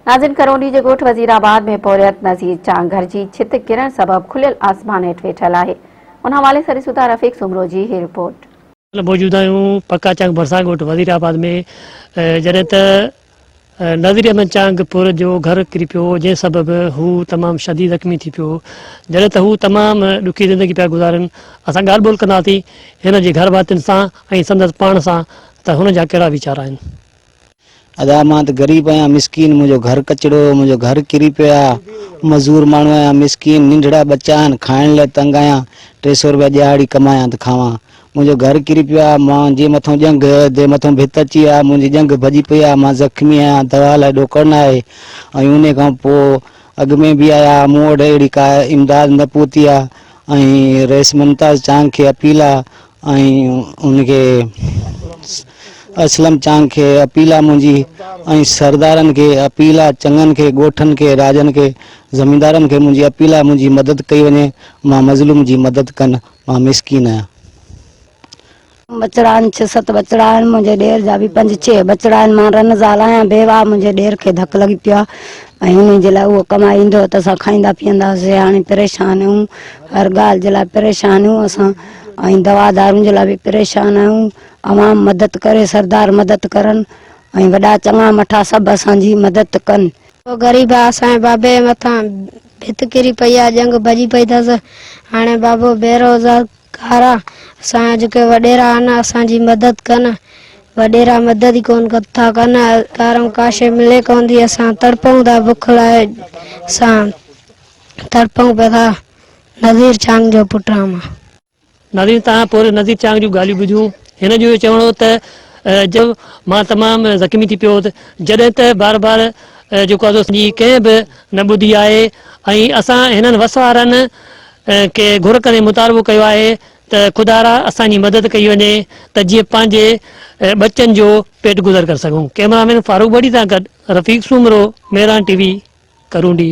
ناظرين ڪرونڊي جي ڳوٺ وزير آباد ۾ پورهيت نذير چانگ گهر جي ڇت ڪرڻ سبب کليل آسمان هيٺ ويٺل آهي ان حوالي سان ڏسون ٿا رفيق سومرو جي هي رپورٽ. موجود آهيون پکا چانگ ڀرسان ڳوٺ وزير آباد ۾ جڏهن ته نذير احمد چانگ پورهيت جو گهر ڪري پيو جنهن سبب هو تمام شديد زخمي ٿي پيو جڏهن ته هو تمام ڏکي زندگي پيا گذارن اسان ڳالهه ٻولهه ڪنداسين هن جي گهر ڀاتين سان ۽ سندس پاڻ سان ته هن جا ڪهڙا ويچار آهن. ادا مان ته غريب آهيان مسڪين منهنجو گهر ڪچڙو منهنجو گهر ڪري پيو آ مزور ماڻهو آهيان مسڪين ننڍڙا ٻچا آهن کائڻ لاء تنگ آهيان ٽي سئو روپيا ڏيهاڙي ڪمايان ته کاوان منهنجو گهر ڪري پيو آ مان جي مٿو ڄنگهه تي مٿو ڀت اچي آ منهنجي ڄنگهه ڀڄي پئي آ مان زخمي آهيان دوا لاء ڏوڪڙ نه آهي ۽ انهي کان پو اڳ ۾ به آيا ها مون وٽ اهڙي ڪا امداد نه پهتي آ ۽ رئيس ممتاز چانگ کي اپيل آ ۽ ان کي اسلم چانگ کي اپيل آ منهنجي ۽ سردارن کي اپيل آ چڱن کي ڳوٺن کي راڄن کي زميندارن کي منهنجي اپيل آ منهنجي مدد ڪئي وڃي مان مظلوم جي مدد ڪن مان مسڪين آهيان. ٻچڙا آهن ڇهه ست ٻچڙا آهن منهنجي ڏير جا به پنج ڇهه ٻچڙا آهن مان رن زال آهيان بيواه آ منهنجي ڏير کي ڌڪ لڳي پيو آ ۽ انهي جي لاء اهو ڪمائي ايندو هو ته اسان کائيندا پيئندا هئاسين هاڻي پريشان اهيون هر ڳالهه جي لاء پريشان اهيون اسان ۽ دوا دارون جي لاء به پريشان آهيون عوام مدد ڪري سردار مدد ڪرن ۽ وڏا چڱا مٺا سڀ اسان جي مدد ڪن. او غريب آ اسان جي بابي جي مٿان ڀت ڪري پئي آ ڄنگ ڀڄي پئي ٿس هاڻي بابو بي روزار گار آ اسان جا جيڪي وڏيرا آهن اسان جي مدد ڪن وڏيرا مدد ئي ڪون ٿا ڪن ڪارم ڪا شي ملي ڪون ٿي اسان تڙپون ٿا بک لاء اسان تڙپون پئي ٿا نذير چانگ جو پٽ آهيان مان. ناظرين تهان پورهيت نذير چانگ جون ڳالهيون ٻڌيون. هن جو اهو چوڻ هو ته ج مان تمام زخمي ٿي پيو هوس جڏهن ته بار بار جيڪو آهي سو اسان جي ڪنهن به نه ٻڌي آهي ۽ اسان هنن وس وارن کي گهر ڪندي مطالبو ڪيو آهي ته خدارا اسان جي مدد ڪئي وڃي ته جيئن پنهنجي ٻچن جو پيٽ گذر ڪري سگهون ڪئميرا مين فاروق ٻڙي سان گڏ رفيق سومرو ميران ٽي وي ڪرونڊي.